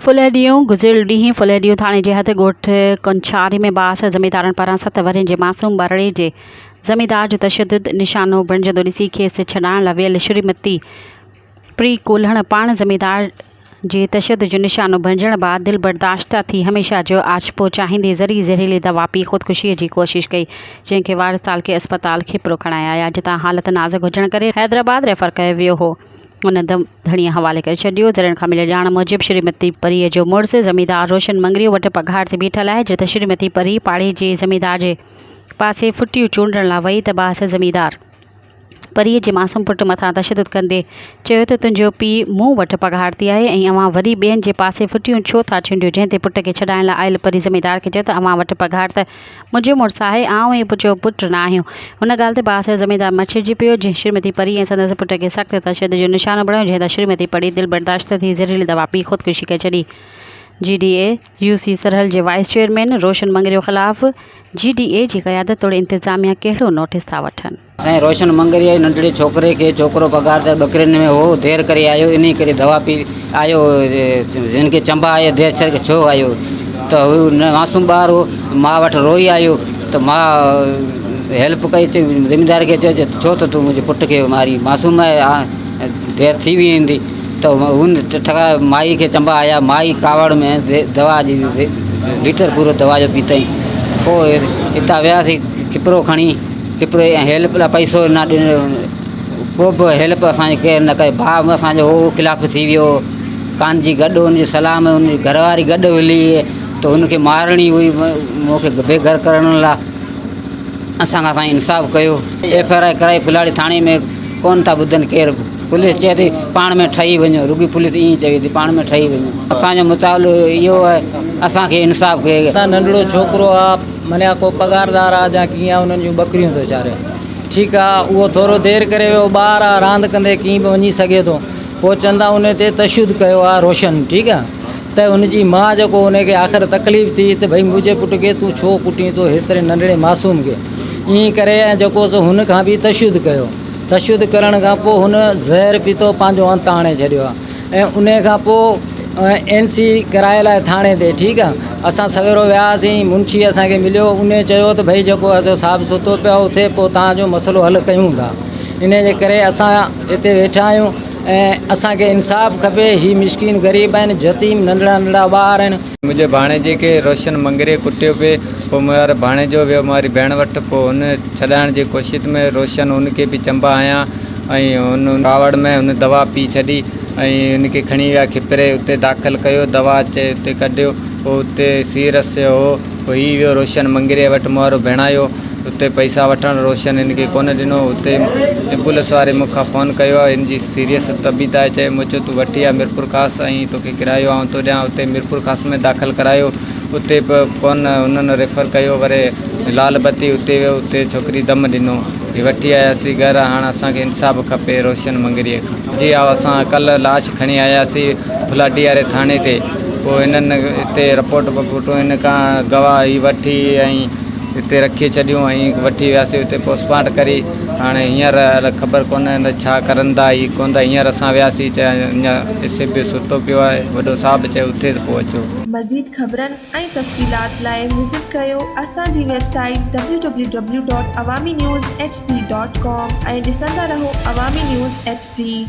ڦلهڙيون، گذريل ڏينهن ڦلهڙيون ٿاڻي جي حد ڳوٺ ڪنڇاري ۾ بااثر زميندارن پاران ست ورهين جي معصوم ٻارڙي جي زميندار جو تشدد نشانو بڻجندو ڏسي کيس ڇڏائڻ لاء ويل شريمتي پري ڪولهڻ پاڻ زميندار جي تشدد جو نشانو بڻجڻ بعد دلبرداشته ٿي هميشه جو آڇپو چاهيندي ذري زهريلي دوا پي خودڪشيء جي ڪوشش ڪئي جنهن کي وارث تعلقي اسپتال کيپرو کڻائي آيا جتان حالت نازڪ هجڻ ڪري حيدرآباد ريفر ڪيو ويو هو ان ڌڻيء حوالي ڪري ڇڏيو ذريعن کان مليل ڄاڻ موجب شريمتي پريء جو مڙس زميندار روشن مڱريو وٽ پگهار تي بيٺل آهي جت شريمتي پري پاڙي جي زميندار جي پاسي ڦٽيون چونڊڻ لاء وئي ته بااثر زميندار پريء جي معصوم پٽ مٿان تشدد ڪندي چيو ته تنهنجو پيء مون وٽ پگهارتي آهي ۽ اوهان وري ٻين جي پاسي ڦٽيون ڇو ٿا ڇنڊيو جنهن تي پٽ کي ڇڏائڻ لاء آيل پري زميندار کي چيو ته اوهان وٽ پگهار ته منهنجي مڙس آهي آئون ئي پٽ جو پٽ نه آهيون ان ڳالهه تي بااثر زميندار مڇرجي پيو جنهن شريمتي پري ۽ سندس پٽ کي سخت تشدد جو نشانو بڻايو جنهن تان شريمتي پري دل برداشت نه ٿي زهريلي دوا پي خودڪشي ڪري ڇڏي جي ڊي اي يو سي سرحل جي وائيس چيئرمين روشن مڱريو خلاف جي ڊي اي جي قيادت توڙي انتظاميا ڪهڙو نوٽيس ٿا وٺن؟ سائين روشن مڱريو جي ننڍڙي ڇوڪري کي ڇوڪرو پگهار تي ٻڪرين ۾ هو دير ڪري آيو انهي ڪري دوا پي آيو هن کي چنبا آيا دير ڇرڪ ڇو آيو ته هو معصوم ٻار هو ماء وٽ روئي آيو ته ماء هيلپ ڪئي ته زميندار کي چيو ته ڇو ته تون منهنجي پٽ کي مارين معصوم آهي دير ٿي ويندي ته هن ٺٺڪاء مائي کي چنبا هنيا. مائي ڪاوڙ ۾ دوا جي ليٽر پورو دوا جو پيتائين. پوء هتان وياسين کپرو کڻي. کپرو ۽ هيلپ لاء پئسو نه ڏنو. ڪو به هيلپ اسان جي ڪير نه ڪئي. ڀاء به اسان جو هو خلاف ٿي ويو. ڪان جي گڏ هن جي صلاح ۾ هن جي گهر واري گڏ هلي ته هن کي مارڻي هئي مون کي بي گهر ڪرڻ لاء. اسان کان سائين انصاف ڪيو. ايف آر آء ڪرائي ڦلاڙي ٿاڻي ۾ ڪونه ٿا ٻڌن ڪير به. پوليس چئي ٿي پاڻ ۾ ٺهي وڃو، رڳي پوليس ائين چوي ٿي پاڻ ۾ ٺهي وڃو، اسان جو مطالبو اهو آهي اسان کي انصاف ڪيو وڃي. ننڍڙو ڇوڪرو آ منيا ڪو پگهاردار آ جا ڪيئن آ انهن جون ٻڪريون ٿو چاري ٺيڪ آ اهو ٿورو دير ڪري ويو ٻار آ راند ڪندي ڪيئن به وڃي سگهي ٿو پوء چون ٿا ان تي تشدد ڪيو آ روشن ٺيڪ آ ته ان جي ماء جيڪو ان کي آخر تڪليف ٿي ته ڀئي منهنجي پٽ کي تون ڇو ڪٽين ٿو هيتري ننڍڙي معصوم کي ائين ڪري ۽ جيڪو سو هن کان به تشدد ڪيو. تشدد ڪرڻ کان پوء هن زهر پيتو پنهنجو انت آڻي ڇڏيو آهي ۽ ان کان پوء اين سي ڪرائي لاء ٿاڻي تي ٺيڪ آهي اسان سويرو وياسين منشي اسانکي مليو ان چيو ته ڀئي جيڪو اسانجو صاحب ستو پيو اٿي پوء تنهنجو مسئلو حل ڪيون ٿا ان جي ڪري اسان هتي ويٺا آهيون ۽ اسانکي انصاف کپي هي مسڪين غريب آهن يتيم ننڍڙا ننڍڙا ٻار آهن منهنجي ڀاڻيجي کي روشن مڱريي ڪٽيو پئي. پوء ميواري ڀاڻيجو ويو ميواري ڀيڻ وٽ. پوء هن ڇڏائڻ جي ڪوشت ۾ روشن هن کي به چنبا هنيا ۽ هن ڪاوڙ ۾ هن دوا پي ڇڏي ۽ هن کي کڻي ويا کپري اتي داخل ڪيو دوا چئي اتي ڪڍيو پوء اتي سيرس جو هو پوء هي ويو روشن مڱريي وٽ ميوارو ڀيڻايو اتي پئسا وٺڻ روشن هن کي ڪونه ڏنو اتي ايمبولنس واري مون کان فون ڪيو هن جي سيريس طبيت آهي چئي مون چيو تون وٺي آ ميرپورخاص ۽ توکي ڪرايو آئون تو ڏيان اتي ميرپور خاص ۾ داخل ڪرايو اتي به ڪون انهن ريفر ڪيو وري لال بتي اتي ويو اتي ڇوڪري دم ڏنو هي وٺي آياسين گهر هاڻ اسان کي انصاف کپي روشن مڱريي کان جي هاء اسان ڪلهه لاش کڻي آياسين ڦلاٽي واري ٿاڻي تي پوء هنن اتي رپورٽ بپورٽون هن کان گواهه هي وٺي ۽ اتي رکي ڇڏيون ۽ وٺي وياسين اتي پوسٽمارٽ ڪري هاڻي هينئر الا خبر ڪونهي ته ڇا ڪرندا هي ڪوندا هينئر اسان وياسين چيا اڃا ايس ايف بي ستو پيو آهي وڏو صاحب چيو اٿي ته پوء اچو. مزيد خبرن ۽ تفصيلات لاء وزٽ ڪيو اسان جي website W W W dot Awami news H D dot com ۽ ڏسندا رهو عوامي نيوز ايڇ ڊي.